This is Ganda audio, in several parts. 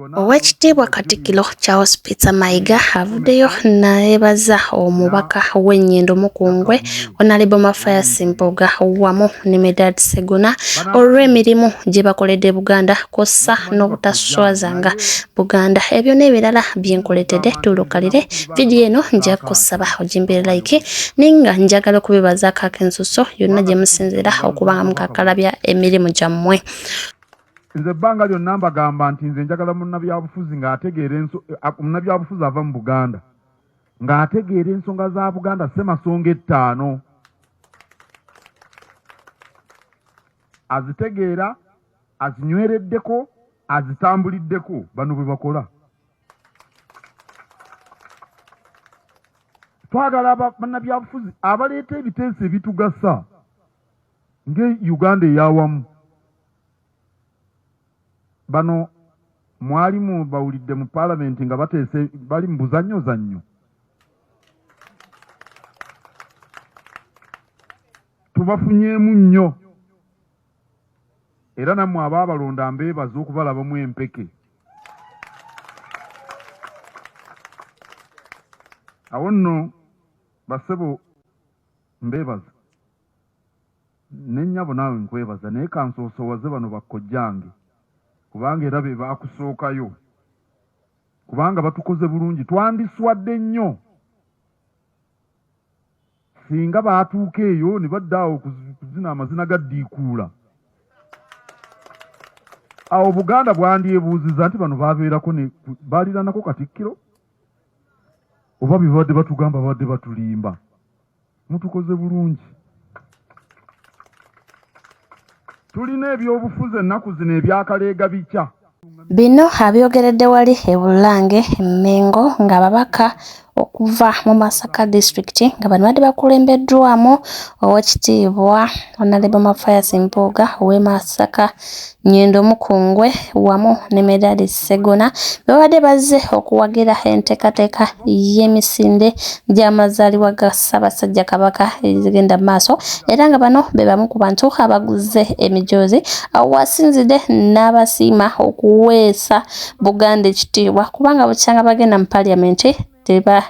Owekitiibwa Katikkiro Charles Peter Mayiga avuddeyo nayebaza omubaka w'ennyendo Mukungwe Onalebo Mafias Mpuuga wamu ne Medard Segona olw'emirimu gye bakoledde Buganda kw'ossa n'obutaswazanga Buganda ebyo n'ebirala bye nkuleetedde tulukalire vidiyo eno nja kusaba ogimbire like ninga njagala okubibazaako akensuso yonna gye musinziira okuba nga mukakalabya emirimu gyammwe nze ebbanga lyonna mbagamba nti nze njagala munnabyabufuzi ng'ategeera enso eh, munnabyabufuzi ava mu buganda ng'ategeera ensonga za buganda semasonga ettaano azitegeera azinywereddeko azitambuliddeko bano bwe bakola twagala bannabyabufuzi abaleeta ebiteeso ebitugasa nga uganda eyawamu bano mwali mubawulidde mu palamenti nga bateese bali mu buzannyo zannyo tubafunyeemu nnyo era nammwe abaabalonda mbeebaza okubalabamu empeke awo nno basebo mbeebaza ne nnyabo naawe nkwebaza naye kansoosowaze bano bakkojjange kubanga era be baakusookayo kubanga batukoze bulungi twandiswadde nnyo singa baatuuka eyo ne badda awo kuzina amazina ga ddiikuula awo buganda bwandyebuuziza nti bano babeerako baaliranako katikkiro oba bye babadde batugamba babadde batulimba mutukoze bulungi tulina ebyobufuzi ennaku zino ebyakaleega bikya Bino abyogeredde wali e Bulange e Mmengo ng'ababaka okuva mu Masaka disitulikiti nga bano badde bakulembeddwamu owekitiibwa Honorable Mathias Mpuuga ow'e Masaka Nyendo Mukungwe wamu ne Medali Ssegona babadde bazze okuwagira enteekateeka y'emisinde gy'amazaalibwa ga Ssaabasajja Kabaka ezigenda maaso era nga bano be bamu ku bantu abaguzze emijoozi awo wasinzidde n'abasiima okuweesa Buganda ekitiibwa kubanga bukyanga bagenda mu Parliament teba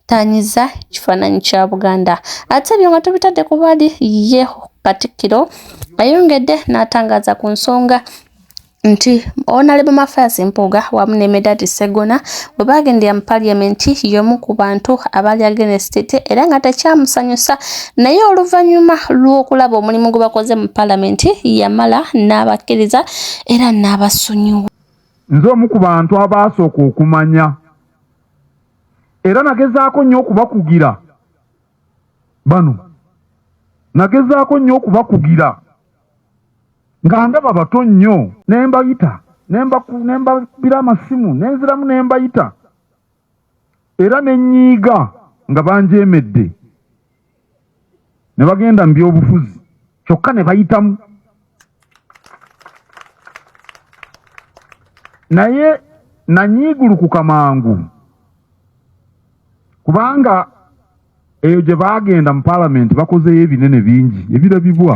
tanyiza ekifaananyi kya buganda ate ebyo nga tubitadde ku bali ye katikkiro ayongedde n'atangaza ku nsonga nti onalebo mafias mpuuga wamu ne medadi segona bwe baagendera mu paliamenti y'omu ku bantu abaali agenesitete era nga tekyamusanyusa naye oluvannyuma lw'okulaba omulimu gwe bakoze mu palamenti yamala n'abakkiriza era n'abasonyiwa nze omu ku bantu abaasooka okumanya era nagezaako nnyo okubakugira bano nagezaako nnyo okubakugira nga ndaba bato nnyo ne mbayita ne mbabira amasimu ne nziramu ne mbayita era ne nnyiiga nga banjeemedde ne bagenda mu byobufuzi kyokka ne bayitamu naye nanyiigulukuka mangu kubanga eyo gye baagenda mu palamenti bakozeyo ebinene bingi ebirabibwa